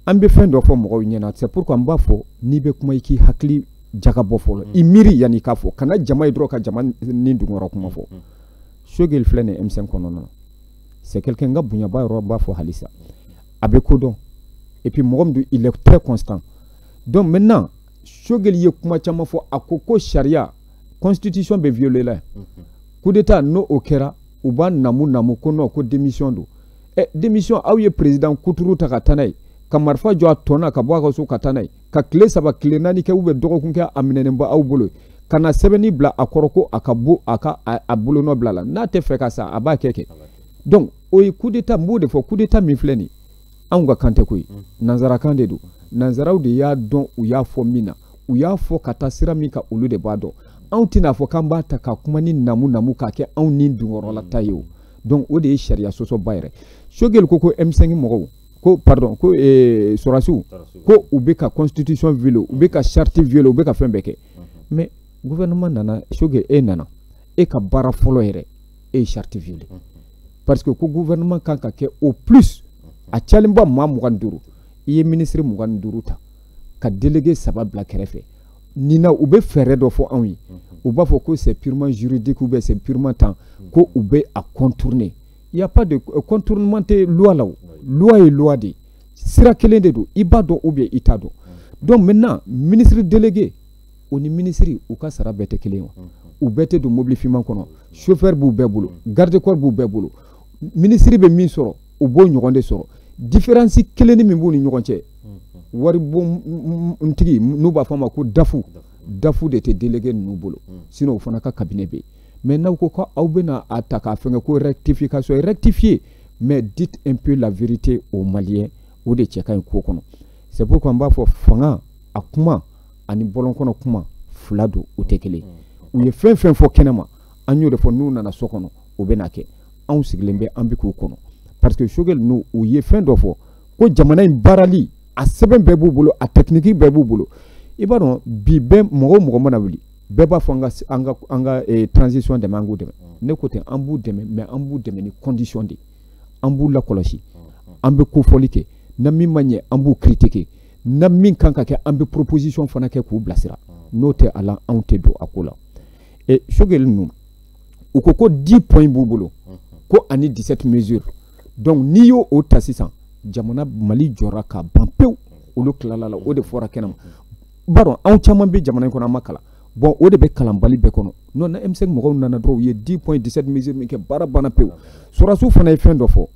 an bɛ fɛn dɔ fɔ mɔgɔw ɲɛna c'est pourquoi n b'a fɔ n'i bɛ kuma i k'i hakili jagabɔ fɔlɔ mm. i miiri yanni k'a fɔ kana jama ye dɔrɔn ka jama ni dungɔrɔ kuma fɔ Choguel filɛ nin M5 kɔnɔna na c'est quelqu'un n ka bonya b'a yɔrɔ b'a fɔ halisa a bɛ kodɔn et puis mɔgɔ min don il est très constant donc maintenant Choguel ye kuma caman fɔ a ko ko sariya constitution bɛ violer la yan mm-hmm. coup d'état n'o o kɛra u b'a namu namu ko non ko démission don ɛ démission aw ye président kuturu ta ka taa n'a ye ka marifa jɔ a tɔn na ka bɔ a ka so ka taa n'a ye ka tile saba tile naani kɛ ou bien dɔgɔkun kɛ a minɛnen bɛ aw bolo ka na sɛbɛn nin bila a kɔrɔ ko a ka bo a ka a bolonɔ bila a la n'a tɛ fɛ ka sa a b'a kɛ kɛ donc o ye coup d'état n b'o de fɔ coup d'état min filɛ nin anw ka kan tɛ ko ye mm. nanzarakan de don nanzaraw de y'a dɔn u y'a fɔ min na u y'a fɔ ka taa sira min kan olu de b'a dɔn anw tɛna fɔ k'an b'a ta ka kuma nin namu namu k'a kɛ anw ni dungɔrɔlata ye o donc o de ye sariya sɔsɔba yɛrɛ choguel ko ko m5 mɔgɔw ko pardon ko eh, sɔrasiw ko u bɛ ka constitution violer u bɛ ka charte violer u bɛ ka fɛn bɛɛ kɛ mais gouvernement nana choguel nana e ka baara fɔlɔ yɛrɛ e ye charte violer parce que ko gouvernement kan ka kɛ au plus a cayalenba maa mugan ni duuru i ye ministre mugan ni duuru ta ka délégué saba bila kɛrɛfɛ nin na u bɛ fɛɛrɛ dɔ fɔ anw ye u b'a fɔ ko c'est purement juridique ou bien c'est purement temps ko u bɛ a contourner il y a pas de euh, contournement tɛ loi la o loi ye loi de ye sira kelen de don i b'a dɔn ou bien i t'a dɔn donc maintenant ministre délégué o ni minisiri u ka sara bɛɛ tɛ kelen ye wa u bɛɛ tɛ don mobili finman kɔnɔ chauffeur b'u bɛɛ bolo garde corps b'u bɛɛ bolo minisiri bɛ min sɔrɔ u b'o ɲɔgɔn de sɔrɔ différence kelennin min b'u ni ɲɔgɔn cɛ waribɔntigi n'u b'a fɔ a ma ko daf daf de tɛ délégué ninnu bolo sinon o fana ka cabinet bɛ yen mais n'aw ko ko aw bɛna a ta k'a fɛnkɛ ko rectification rectifier mais dites un peu la vérité aux maliens o de cɛ ka ɲi ko kɔnɔ c'est pourquoi n b'a fɔ fanga a kuma ani bɔlɔn kɔnɔ kuma fila don u tɛ kelen u ye fɛn fɛn fɔ kɛnɛma an y'o de fɔ n'u nana so kɔnɔ o bɛna kɛ anw sigilen bɛ an bɛ k'u kɔnɔ parce que choguel ninnu ye fɛn dɔ fɔ ko jamana in baarali a sɛbɛn bɛɛ b'u bolo a technique bɛɛ b'u bolo i b'a dɔn bi bɛɛ mɔgɔ mɔgɔ mana wuli bɛɛ b'a fɔ an ka an ka an ka eh, transition dɛmɛ an k'u dɛmɛ ne ko ten an b'u dɛmɛ mais an b'u dɛmɛ ni condition de an b'u lakɔlɔsi an bɛ kofɔli kɛ n'a min ma ɲɛ an b'u critiquer n'a min kan ka kɛ an bɛ proposition fana kɛ k'u bilasira n'o tɛ a la anw tɛ don a ko la eh, choguel ninnu u ko ko 10 points b'u bolo ko ani 17 mesures donc n'i y'o o ta sisan jamana mali jɔra ka ban pewu olu tilala la o de fɔra kɛnɛma b'a dɔn anw caman bɛ jamana in kɔnɔ an ma kalan bon o de bɛ kalanbali bɛɛ kɔnɔ n'o na m5 mɔgɔw nana dɔrɔn u ye 10 points 17 mesures min kɛ baara banna pewu sɔrɔdasiw fana ye fɛn dɔ fɔ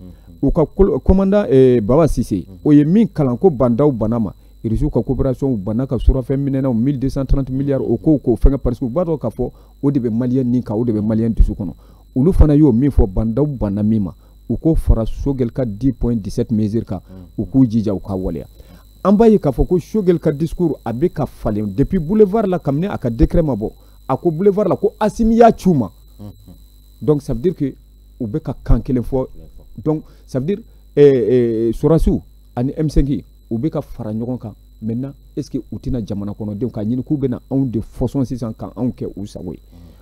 u ka commandant eh, baba cissé o ye min kalan ko bah n'daw banna ma irisiw ka coopération u banna ka surafɛn minɛnaw 1230 milliards o kow k'o fɛngɛ parce que u b'a dɔn k'a fɔ o de bɛ maliyɛn ni kan o de bɛ maliyɛn dusu kɔnɔ olu fana y'o min fɔ bah n'daw banna min ma u k'o fara choguel ka 10 points 17 mesures kan u k'u jija u k'a waleya an b'a ye k'a fɔ ko choguel ka discours a bɛ ka falen depuis boulevard la kabini a ka décret ma bɔ a ko boulevard la ko assimi y'a ci u ma donc ça veut dire que u bɛ ka kan kelen fɔ donc ça veut dire eh, eh, sɔrasiw ani m5 u bɛ ka fara ɲɔgɔn kan maintenant est ce que u tɛna jamana kɔnɔdenw k'a ɲini k'u bɛna anw de fɔsɔn sisan ka anw kɛ u sago ye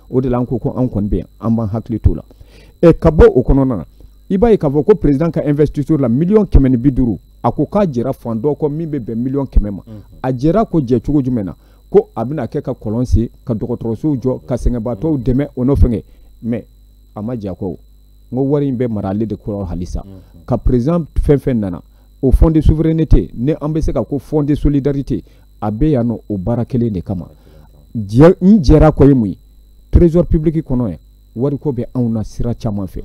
o de la an ko ko anw kɔni bɛ yan an b'an hakili t'o la ɛ ka bɔ o kɔnɔna na i b'a ye k'a fɔ ko président ka investiture la miliyɔn kɛmɛ ni bi duuru a ko k'a jɛra fan dɔ kɔ min bɛ bɛn miliyɔn kɛmɛ ma a jɛra ko jɛ cogo jumɛn na ko a bɛna kɛ ka kɔlɔn sen ka dɔgɔtɔrɔsow jɔ ka sɛgɛnbaatɔw dɛmɛ o n'o fɛngɛ mais a ma jɛ a kɔ o n ko wari in bɛ mara ale de kɔrɔ halisa ka président fɛn fɛn nana o fond de souveraineté ne an bɛ se ka ko fond de solidarité a bɛ yan nɔ o baara kelen de kama jɛ n jɛra kɔ ye mun ye trésor public kɔnɔ yan wariko bɛ anw na sira caman fɛ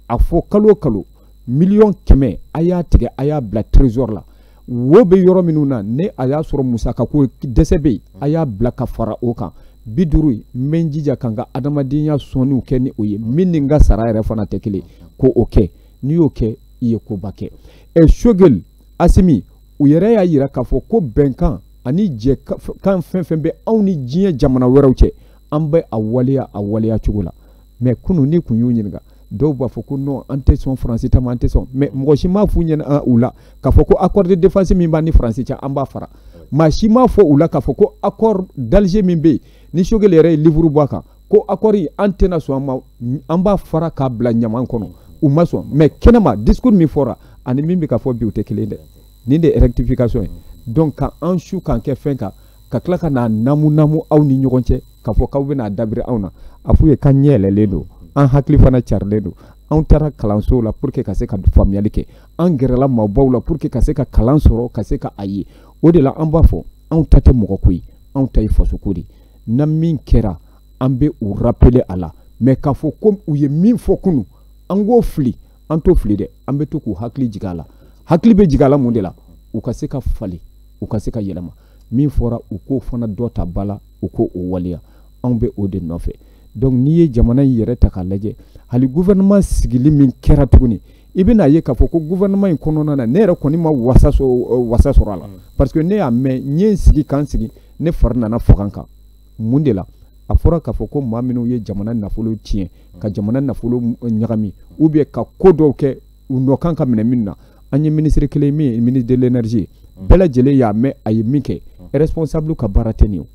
a fɔ kalo kalo miliyɔn kɛmɛ a y'a tigɛ a y'a bila trésor la wo bɛ yɔrɔ minnu na ni a y'a sɔrɔ musakako dɛsɛ bɛ yen a y'a bila ka fara o kan bi duuru in n bɛ n jija ka n ka adamadenya sɔnniw kɛ ni o ye min ni n ka sara yɛrɛ fana tɛ kelen ko o kɛ n'i y'o kɛ i ye koba kɛ ɛ sogeli asimi u yɛrɛ y'a yira k'a fɔ ko bɛnkan ani jɛkan fɛn fɛn bɛ anw ni diɲɛ jamana wɛrɛw cɛ an bɛ a waleya a waleya cogo la mais kunu n'i kun y'u ɲininka dɔw b'a fɔ ko non an tɛ sɔn faransi ta ma an tɛ sɔn mais mɔgɔ si m'a f'u ɲɛna ah, u la k'a fɔ ko accord de défense min b'an ni faransi cɛ an b'a fara maa si m'a fɔ u la k'a fɔ ko accord d'alger min bɛ yen ni sogeli yɛrɛ ye livre bɔ a kan ko accord in an tɛna sɔn a ma an b'a fara k'a bila ɲaman kɔnɔ u ma sɔn mais kɛnɛma discours min fɔra ani min bɛ ka fɔ bi u tɛ kelen dɛ nin de ye rectification ye donc ka an su k'an kɛ fɛn kan ka tila ka n'a namu namu aw ni ɲɔgɔn cɛ k'a fɔ k'aw bɛna dabiri anw na a f'u ye k'an ɲɛ yɛlɛlen don an hakili fana carilen don anw taara kalansow la pour que ka se ka faamuyali kɛ an gɛrɛla maabaw la pour que ka se ka kalan sɔrɔ ka se ka a ye o de la an b'a fɔ anw ta tɛ mɔgɔ ko ye anw ta ye fasoko de ye na min kɛra an bɛ u rappeler a la mais k'a fɔ ko u ye min fɔ kunu an k'o fili an t'o fili dɛ an bɛ to k'u hakili jigin a la hakili bɛ jigin a la mun de la u ka se ka falen u ka se ka yɛlɛma min fɔra u k'o fana dɔ ta ba la u k'o o waleya anw bɛ o de nɔfɛ donc n'i ye jamana in yɛrɛ ta k'a lajɛ hali gouvernement sigili min kɛra tuguni i bɛna ye k'a fɔ ko gouvernement in kɔnɔna na ne yɛrɛ kɔni ma wasa sɔrɔ a la mm. parce que ne y'a mɛn n ye n sigi k'an sigi ne fari nana faga n kan mun de la a fɔra k'a fɔ ko maa minnu ye jamana nafolo tiɲɛ ka jamana nafolo ɲagami ou bien ka ko dɔw kɛ u nɔ kan ka minɛ min na an ye minisiri kelen min ye ministre de l'énergie bɛɛ lajɛlen y'a mɛn a ye min kɛ responsable ka baara tɛ nin ye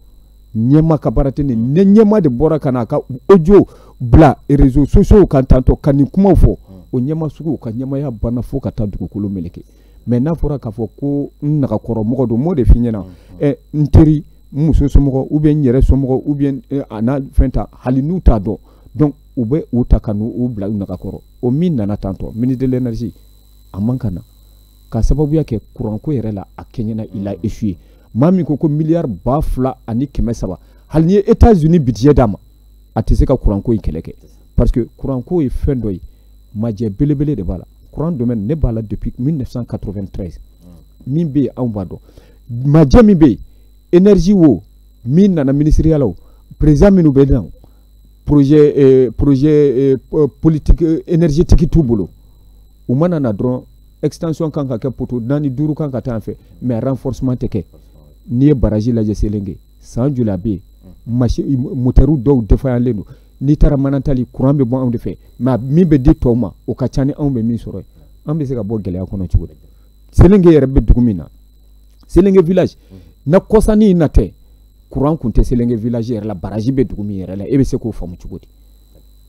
ɲɛmaa ka baara tɛ nin ye ɲɛmaa de bɔra ka na a ka audio bila réseaux sociaux kan tantɔ ka nin kumaw fɔ o ɲɛmaa sugu ka ɲɛmaaya banna fo ka taa dugukolo meleke mais n'a fɔra k'a fɔ ko n nagakɔrɔ mɔgɔ don n b'o de f'i ɲɛna ɛ n teri n muso somɔgɔ ou bien n yɛrɛ somɔgɔ ou bien a n'a fɛn ta hali n'u t'a dɔn donc u bɛ u ta ka n'u bila u nagakɔrɔ o min nana tantɔ ministre de l'énergie a man kan ka na ka sababuya kɛ kuranko yɛrɛ la a kɛɲɛna il a échoué maa min ko ko miliyari ba fila ani kɛmɛ saba hali n'i ye états-unis bidijɛ d'a ma a tɛ se ka kuranko in kɛlɛ kɛ parce que kuranko ye fɛn dɔ ye majɛ belebele de b'a la kuran domaine ne b'a la depuis 1993 min bɛ yen anw b'a dɔn majɛ min bɛ yen énergie wo min nana minisiriya la o président minnu bɛ na projet euh, projet euh, politique euh, énergétique t'u bolo u mana na dɔrɔn extension k'an ka kɛ poto naani duuru k'an ka taa yan fɛ mais renforcement tɛ kɛ n'i ye baraji lajɛ selenge san joli a bɛ yen masi motɛriw dɔw défaillant don n'i taara manantali kuran bɛ bɔ anw de fɛ mais min bɛ di tɔw ma o ka ca ni anw bɛ min sɔrɔ an bɛ se ka bɔ gɛlɛya kɔnɔ cogo di selenge yɛrɛ bɛ dugu min na selenge village na kɔsanin in na tɛ kuran kun tɛ selenge village yɛrɛ la baraji bɛ dugu min yɛrɛ la e bɛ se k'o faamu cogo di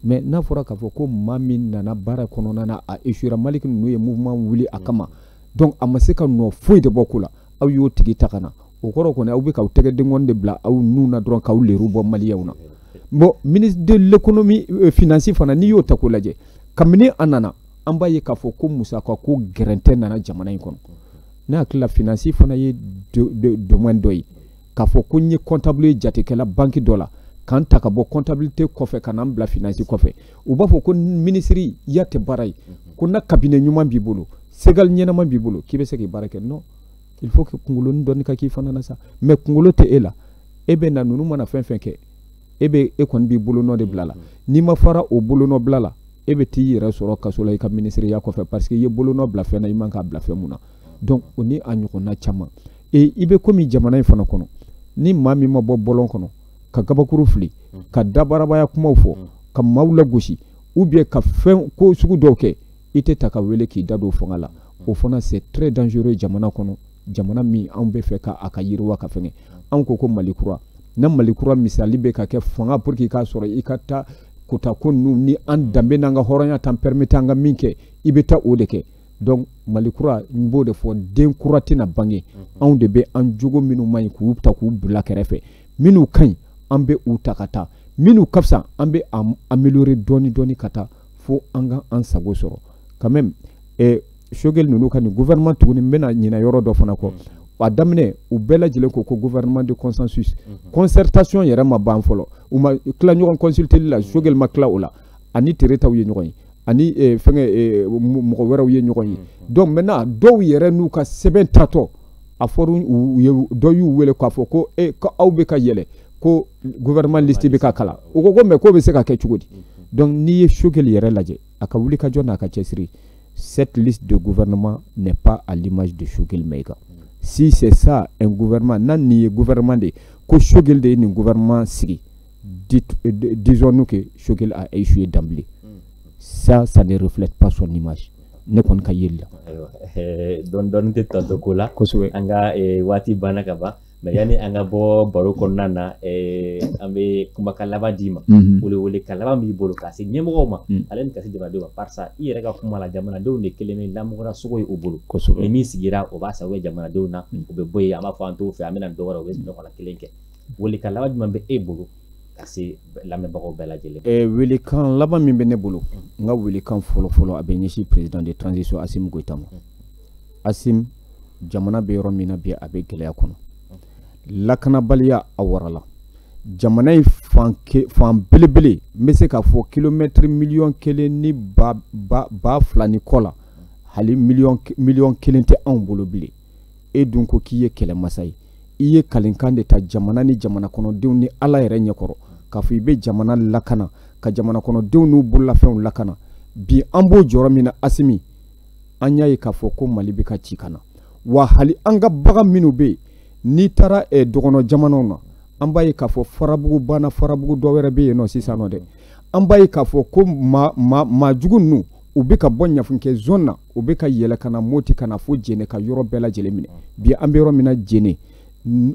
mais n'a fɔra k'a fɔ ko maa min nana baara kɔnɔna na a échouera maliki ninnu ye mouvement wuli a kama donc a ma se ka nɔ foyi de bɔ ko la aw y'o tigi ta ka na o kɔrɔ kɔni aw bɛ k'aw tɛgɛ denkɔni de bila aw nun na dɔrɔn k'aw leru bɔ maliyɛnw na bon ministre de l'économie euh, finance fana n'i y'o ta k'o lajɛ kabini a nana an b'a ye k'a fɔ ko musaka ko gɛrɛntɛ nana jamana in kɔnɔ ne hakili la finance fana ye domaine dɔ ye k'a fɔ ko n ye comptable jatekɛla banki dɔ la k'an ta ka bɔ comptabilité kɔfɛ ka n'an bila finance kɔfɛ u b'a fɔ ko minisiriya tɛ baara ye ko ni cabinet ɲuman b'i bolo segal ɲɛnama b'i bolo k'i bɛ se k'i baara kɛ non il faut que kungolonin dɔɔni ka k'i fana na sa mais kungolo tɛ e la e bɛ na ninnu mana fɛn fɛn kɛ e bɛ e kɔni b'i bolonɔ de bila la n'i ma fara o bolonɔ bila la e bɛ t'i yɛrɛ sɔrɔ kaso la i ka minisiriya kɔfɛ parce que i ye bolonɔ bila fɛn na i man k'a bila fɛn min na donc o ni a ɲɔgɔnna caman e i bɛ komi jamana in fana kɔnɔ ni maa min ma bɔ bɔlɔn kɔnɔ ka gabakuru fili mm. ka dabarabaya kumaw fɔ mm. ka maaw lagosi ou bien ka fɛn ko sugu dɔw kɛ i tɛ ta ka wele k'i da don fanga la mm. o fana c'est très dangereux jamana kɔnɔ jamana min anw b'a fɛ ka a ka yiriwa ka fɛngɛ anw ko ko mali kura na mali kura misali bɛ ka kɛ fanga pour que k'a sɔrɔ i ka taa kota ko ninnu ni an danbe n'an ka hɔrɔnya t'an permettre an ka min kɛ i bɛ taa o de kɛ donc mali kura n b'o de fɔ den kura tɛna bange anw de bɛ an jogo minnu man ɲi k'u ta k'u bila kɛrɛfɛ minnu ka ɲi an bɛ u ta ka taa minnu ka fisa an bɛ a améliorer dɔɔni dɔɔni ka taa fo an ka an sago sɔrɔ quand même eh, sogɛli ninnu ka nin gouvernement tuguni n bɛna ɲinɛ yɔrɔ dɔ fana kɔ a daminɛ u bɛɛ lajɛlen ko ko gouvernement de consensus concertation yɛrɛ ma ban fɔlɔ u ma tila ɲɔgɔn consulteli la sogɛli ma tila o la ani teritaw ye ɲɔgɔn ye ani eh, fɛngɛ eh, mɔgɔ wɛrɛw ye ɲɔgɔn ye mm-hmm. donc maintenant dɔw yɛrɛ n'u ka sɛbɛn tatɔ a fɔra u ye dɔ y'u wele k'a fɔ ko e ko aw bɛ ka yɛlɛ ko gouvernement liste bɛ ka kalan u ko ko mais k'o bɛ se ka kɛ cogo di mm-hmm. donc n'i ye Choguel yɛrɛ lajɛ a ka wuli ka jɔ n'a ka cɛsiri cette liste de gouvernement n'est pas à l'image de Choguel Maïga. Mm. Si c'est ça, un gouvernement, ni nin gouvernement de, ko Choguel de nin gouvernement sigi, disons-nous que Choguel a échoué d'emblée. Mm. Ça, ça ne reflète pas son image. ne kɔni ka yeli la eh,
dɔɔni dɔɔni tɛ tantɔ ko la kosɛbɛ an ka eh, waati banna ka ban mais yanni an ka bɔ baro kɔnɔna na eh, an bɛ kumakan laban d'i ma mhm. wele welekan laban b'i bolo ka se ɲɛmɔgɔw ma mm. ani ka se jamanadenw ma barisa i yɛrɛ ka kuma la jamanadenw de kɛlen bɛ lamɔgɔra sogo ye u bolo ni min sigira o b'a sago jamanadenw na mm. u bɛ bɔ yen an b'a fɔ an t'o fɛ an bɛna dɔ wɛrɛ o b'o ɲɔgɔnna kelen kɛ welekan laban jumɛn bɛ e bolo ka se lamɛnbagaw bɛɛ lajɛlen eh, welekan laban min bɛ ne bolo n ka welekan fɔlɔfɔlɔ a bɛ ɲɛsin président de transition Assimi Goïta ma Assimi jamana bɛ yɔrɔ min na bi a bɛ gɛlɛya kɔnɔ lakanabaliya a warala jamana in fan fan belebele n bɛ se k'a fɔ kilomɛtiri miliyɔn kelen ni ba ba ba fila ni kɔ la hali miliyɔn miliyɔn kelen tɛ anw bolo bilen e dun ko k'i ye kɛlɛmasa ye i ye kalikan de ta jamana ni jamana kɔnɔdenw ni ala yɛrɛ ɲɛkɔrɔ k'a fɔ i bɛ jamana lakana ka jamana kɔnɔdenw n'u bololafɛnw lakana bi an b'o jɔyɔrɔ min na Assimi an y'a ye k'a fɔ ko mali bɛ ka ci ka na wa hali an ka bagan minnu bɛ yen n'i taara eh, dɔgɔnɔ jamanaw na an b'a ye k'a fɔ farabugu banna farabugu dɔ wɛrɛ bɛ yen nɔ sisan nɔ dɛ an b'a ye k'a fɔ ko maa jugu ninnu u bɛ ka bɔ ɲafunkɛ zon na u bɛ ka yɛlɛ ka na moti ka na fo jɛnɛ ka yɔrɔ bɛɛ lajɛlen minɛ bi an bɛ yɔrɔ min na jɛnɛ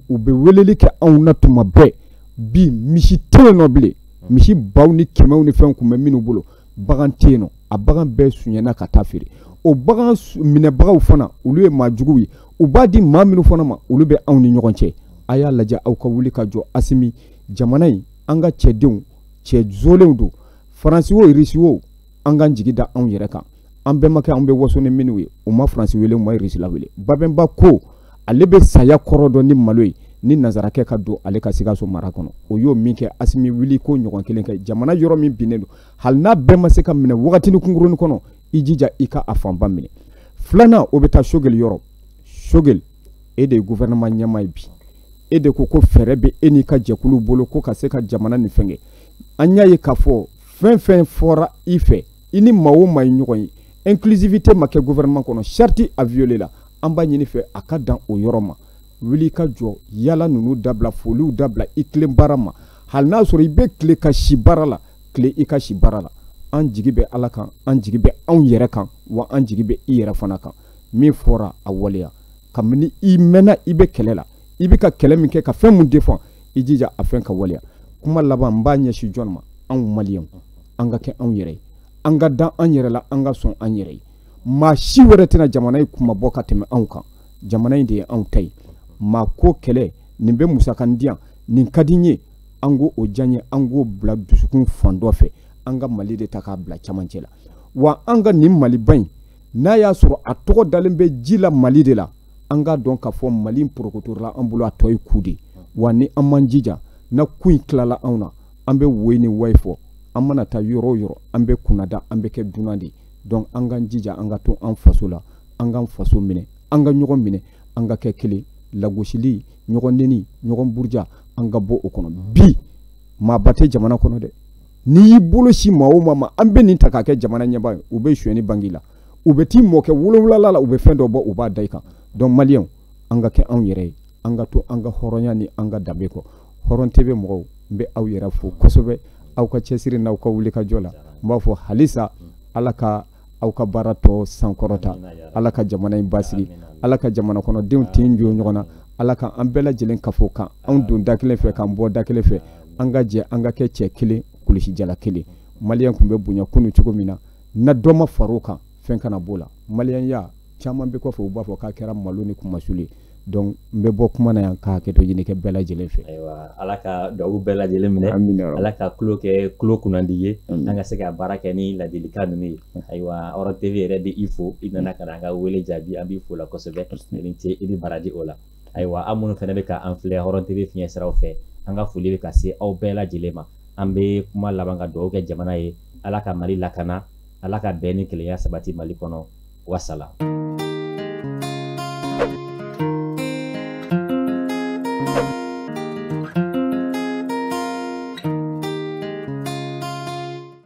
u bɛ weleli kɛ anw na tuma bɛɛ bi misi tɛ yen nɔ bilen misi baw ni kɛmɛw ni fɛnw tun bɛ minnu bolo bagan tɛ yen nɔ a bagan bɛɛ sunyɛna ka taa feere o bagan minɛbagaw fana olu ye maa juguw ye u b'a di maa minnu fana ma olu bɛ anw ni ɲɔgɔn cɛ a y'a lajɛ aw ka wuli ka jɔ Assimi jamana in an ka cɛdenw cɛ jɔlenw don faransi wo irisi wo an k'an jigi da anw yɛrɛ kan an bɛnbakɛ anw bɛ waso ni minnu ye u ma faransi wele u ma irisila wele babɛnba ko ale bɛ saya kɔrɔ dɔn ni malo ye ni nanzarakɛ ka don ale ka sikaso mara kɔnɔ o y'o min kɛ Assimi wuli k'o ɲɔgɔn kelen kɛ jamana yɔrɔ min binnen don hali n'a bɛɛ ma se ka minɛ wagatini kunkuruni kɔnɔ i jija i ka a fanba minɛ filanan o bɛ taa Choguel yɔrɔ Choguel e de ye gouvernement ɲɛmaa ye bi e de ko ko fɛɛrɛ bɛ e n'i ka jɛkulu bolo ko ka se ka jamana nin fɛngɛ an y'a ye k'a fɔ fɛn fɛn fɔra i fɛ i ni maa o maa ye ɲɔgɔn ye inclusivité ma kɛ gouvernement kɔnɔ charte a violé la an b'a ɲini i fɛ a ka dan o yɔrɔ ma wuli ka jɔ yaala ninnu dabila foliw dabila i tilen baara ma hali n'a sɔrɔ i bɛ tile ka si baara la tile i ka si baara la an jigi bɛ ala kan an jigi bɛ anw yɛrɛ kan wa an jigi bɛ i yɛrɛ fana kan min fɔra a waleya kabini i mɛnna i bɛ kɛlɛ la i bɛ ka kɛlɛ min kɛ ka fɛn min défend i jija a fɛn ka waleya kuma laban n b'a ɲɛsin jɔn ma anw maliyɛnw an ka kɛ anw yɛrɛ ye an ka da an yɛrɛ la an ka sɔn an yɛrɛ ye maa si wɛrɛ tɛna jamana in kunmabɔ ka tɛmɛ anw kan jamana in de ye anw ta ye maa ko kɛlɛ nin bɛ musakan diyan nin ka di n ye an ko o diya n ye an k'o bila dusukun fan dɔ fɛ an ka mali de ta k'a bila camancɛ la wa an ka nin maliba in n'a y'a sɔrɔ a tɔgɔ dalen bɛ ji la mali de la an k'a dɔn k'a fɔ mali in porokotola an bolo a tɔ ye ku de wa ni an ma an jija n'a ku in tilala anw na an bɛ woyi ni wayi fɔ an mana taa yɔrɔ o yɔrɔ an bɛ kunnada an bɛ kɛ dunan de donc an k'an jija an ka to an faso la an k'an faso minɛ an ka ɲɔgɔn minɛ an ka kɛ kelen lagosili ɲɔgɔn neni ɲɔgɔn buruja an ka bɔ o kɔnɔ bi maaba tɛ jamana kɔnɔ dɛ n'i y'i bolo sin maa o maa ma an bɛ nin ta k'a kɛ jamana ɲɛmaa ye u bɛ sonyɛni bangi i la u bɛ t'i mɔkɛ wolonwulanan la u bɛ fɛn dɔ bɔ u b'a da i kan donc maliyɛnw an ka kɛ anw yɛrɛ ye an ka to an ka hɔrɔnya ni an ka danbe kɔ hɔrɔn tv mɔgɔw n bɛ aw yɛrɛ fo kosɛbɛ aw ka cɛsiri n'aw ka wulikajɔ la n b'a fɔ halisa ala ka aw ka baara tɔ sankɔrɔta ala ka jamana in basigi ala ka jamana kɔnɔdenw tin don ɲɔgɔn na
ala ka an bɛɛ lajɛlen kafo ka anw don da kelen fɛ k'an bɔ da kelen fɛ an ka jɛ an ka kɛ cɛ kelen kulusijala kelen maliyɛn tun bɛ bonya kunu cogo min na na dɔ ma far'o kan fɛn kana b'o la maliyɛnya caman bɛ kɔfɛ u b'a fɔ k'a kɛra malo ni kunmasuli donc n bɛ bɔ kuma na yan ka hakɛto ɲini kɛ bɛɛ lajɛlen fɛ ayiwa ala ka
dugawu bɛɛ lajɛlen minɛ ala ka tulo kɛ tulo kunnandi ye an ka se ka baara kɛ ni ladilikan ninnu ye ayiwa hɔrɔn tv yɛrɛ bɛ i fo i nana ka na an ka wele jaabi an b'i fo o la kosɛbɛ i ni ce i ni baraji o la ayiwa aw minnu fana bɛ ka an filɛ hɔrɔn tv fiɲɛ siraw fɛ an ka foli bɛ ka se aw bɛɛ lajɛlen ma an bɛ kuma laban ka dugawu kɛ jamana ye ala ka mali lakana ala ka bɛn ni kelenya sabati mali kɔnɔ wasalam